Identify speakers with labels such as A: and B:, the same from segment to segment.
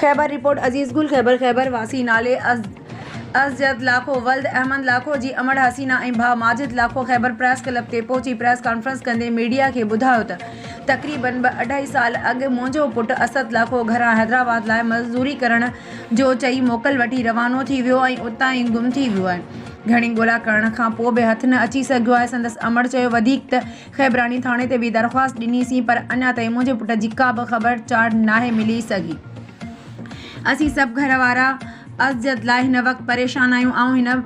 A: Khyber, report Aziz Gul Khyber Khyber واسي نالي ازيد لاکو ولد احمد لاکو جي امڙ حسينا ۽ ڀاء ماجد لاکو خيبر پريس ڪلب تي پهچي پريس ڪانفرنس ڪندي ميڊيا کي ٻڌايو ته تقريبن ٻه اڍائي سال اڳ منهنجو پٽ اسد لاکو گهران حيدرآباد لاء مزدوري ڪرڻ جو چئي موڪل وٺي روانو ٿي ويو ۽ اتان ئي گم ٿي ويو آهي گهڻي ڳولا ڪرڻ کان پوء به هٿ نه اچي سگهيو آهي سندس امڙ چيو وڌيڪ ته خيبراڻي ٿاڻي تي به درخواست ڏني سين پر اڃا تائين منهنجي پٽ جي ڪا به خبر چار ناهي ملي سگهي. اسين سڀ گهر وارا ازيت لاء هن وقت پريشان آهيون. آئون هن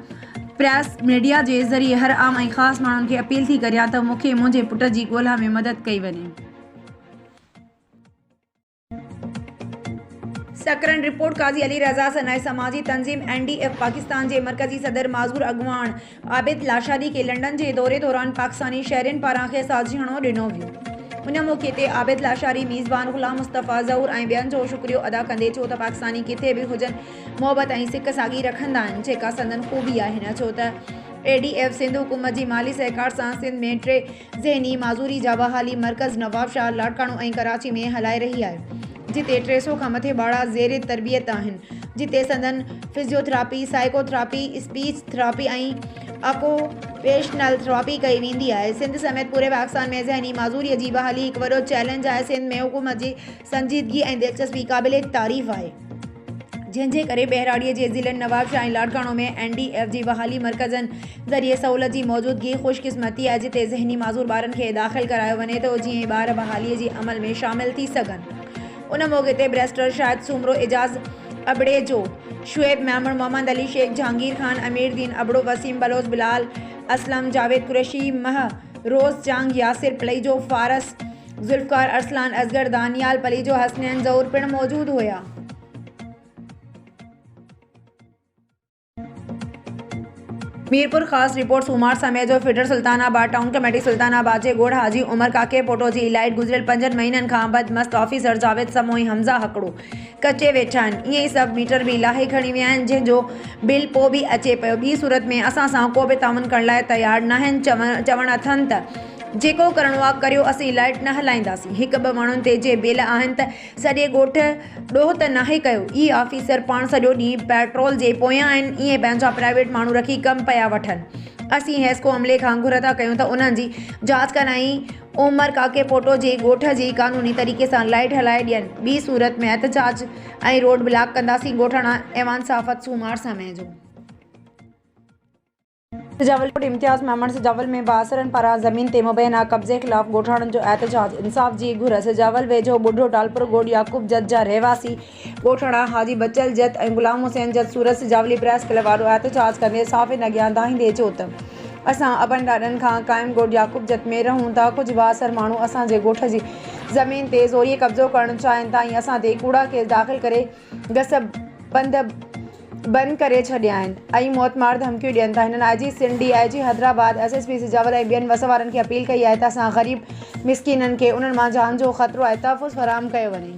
A: پريس ميڊيا جي ذريعي هر عام ۽ خاص ماڻهن کي اپيل ٿي ڪريان ته مون کي منهنجي پٽ جي ڳولها ۾ مدد ڪئي وڃي. سڪرنڊ، رپورٽ، قاضي علي رضا سنائي سماجي تنظيم اين ڊي ايف پاڪستان جي مرڪزي صدر معذور اڳواڻ عابد لاشاري کي لنڊن جي دوري دوران پاڪستاني شهرين پاران کيس ساجهيڻو ڏنو ويو ان موقعي تي عابد لاشاري ميزبان غلام مصطفيٰ ظهور ۽ ٻين جو شڪريو ادا ڪندي چيو ته پاڪستاني ڪٿي به هجن محبت ۽ سڪ ساڳي رکندا آهن جيڪا سندن خوبي آهي نه ڇو ته اي ڊي ايف سنڌ حڪومت جي مالي سهڪار سان سنڌ ۾ ٽي ذهني معذوري جا بحالي مرڪز نوابشاهه، لاڙڪاڻو ۽ ڪراچي ۾ هلائي رهي آهي، جتي ٽي سئو کان مٿي ٻارڙا زير تربيت آهن، جتي سندن physiotherapy, psychotherapy, speech therapy ۽ occupational therapy ڪئي ويندي آهي. سنڌ سميت پوري پاڪستان ۾ ذهني معذوري جي بحالي هڪ وڏو چئلينج آهي، سنڌ ۾ حڪومت جي سنجيدگي ۽ دلچسپي قابل تعريف آهي. جنهن جي ڪري ٻهراڙيء جي ضلعن Nawabshah ۽ Larkana ۾ N D F جي بحالي مرڪزن ذريعي سهولت جي موجودگي خوش قسمتي آهي جتي ذهني معذور ٻارن کي داخل ڪرايو وڃي ٿو جيئن ٻار بحالي جي عمل ۾ شامل ٿي سگهن ان موقعي تي بريسٽر شاهد سومرو اعجاز ابڙيجو شعيب ميمڻ محمد علي شيخ جهانگير خان امير دين ابڙو وسيم بلوچ بلال اسلم جاويد قريشي مهروز جنگ ياسر پليجو فارس ذوالفقار، ارسلان اصغر، دانيال پليجو، حسنين ظهور پڻ موجود هيا. ميرپورخاص، رپورٽ، سومار سمي جو feeder Sultanabad town committee Sultanabad جي ڳوڙهه حاجي عمر ڪاڪي پوٽو جي الائٽ گذريل پنجن مهينن کان بد مست آفيسر جاويد سموئي حمزه هڪڙو، ڪچي ويٺا آهن ائين ئي سڀ ميٽر به لاهي کڻي ويا آهن جنهن جو بل پو به اچي پيو ٻي صورت ۾ اسان سان ڪو به تعاون ڪرڻ لاء تيار ناهن چوڻ اٿن ته جيڪو ڪرڻو آ ڪريو اسين لائٽ نه هلائينداسين هڪ ٻه ماڻهن تي جي بل آهن ته سڄي ڳوٺ ڏوهه ته ناهي ڪيو اي آفيسر پاڻ سڄو ڏينهن پيٽرول جي پويان آهن ائين پنهنجا پرائيويٽ ماڻهو رکي ڪم پيا وٺن اسين حيسڪو عملي کان گهر ٿا ڪيون ته انهن جي جاچ ڪرائين عمر ڪاڪي پوٽو جي ڳوٺ جي قانوني طريقي سان لائيٽ هلائي ڏين ٻي صورت ۾ احتجاج ۽ روڊ بلاڪ ڪنداسين ڳوٺاڻا ايوان صحافت سومار سمي جو. سجاول ڪوٽ امتياز ميمڻ سجاول ۾ بااثرن پاران زمين تي مبينا قبضي خلاف ڳوٺاڻن جو احتجاج انصاف جي گهر سجاول ويجهو ٻڍو ٽالپرو گوڏ يعقوب جت جا رهواسي ڳوٺاڻا حاجي بچل جت ۽ غلام حسين جت سورت سجاولي پريس ڪلب آڏو احتجاج ڪندي صحافين اڳيان دانهيندي چيو ته اسان ابن ڏاڏن کان قائم ڳوٺ يعقوب جت ۾ رهون ٿا ڪجهه بااثر ماڻهو اسان جي ڳوٺ جي زمين تي زوريء قبضو ڪرڻ چاهين ٿا ۽ اسان تي ڪوڙا ڪيس داخل ڪري گسبندب بند ڪري ڇڏيا آهن ۽ موت مار ڌمڪيون ڏين ٿا هنن I G Sindh D I G Hyderabad S S P Sujawal ۽ ٻين وس وارن کي اپيل ڪئي آهي ته اسان غريب مسڪينن کي انهن مان جان جو خطرو آهي تحفظ فراهم ڪيو وڃي.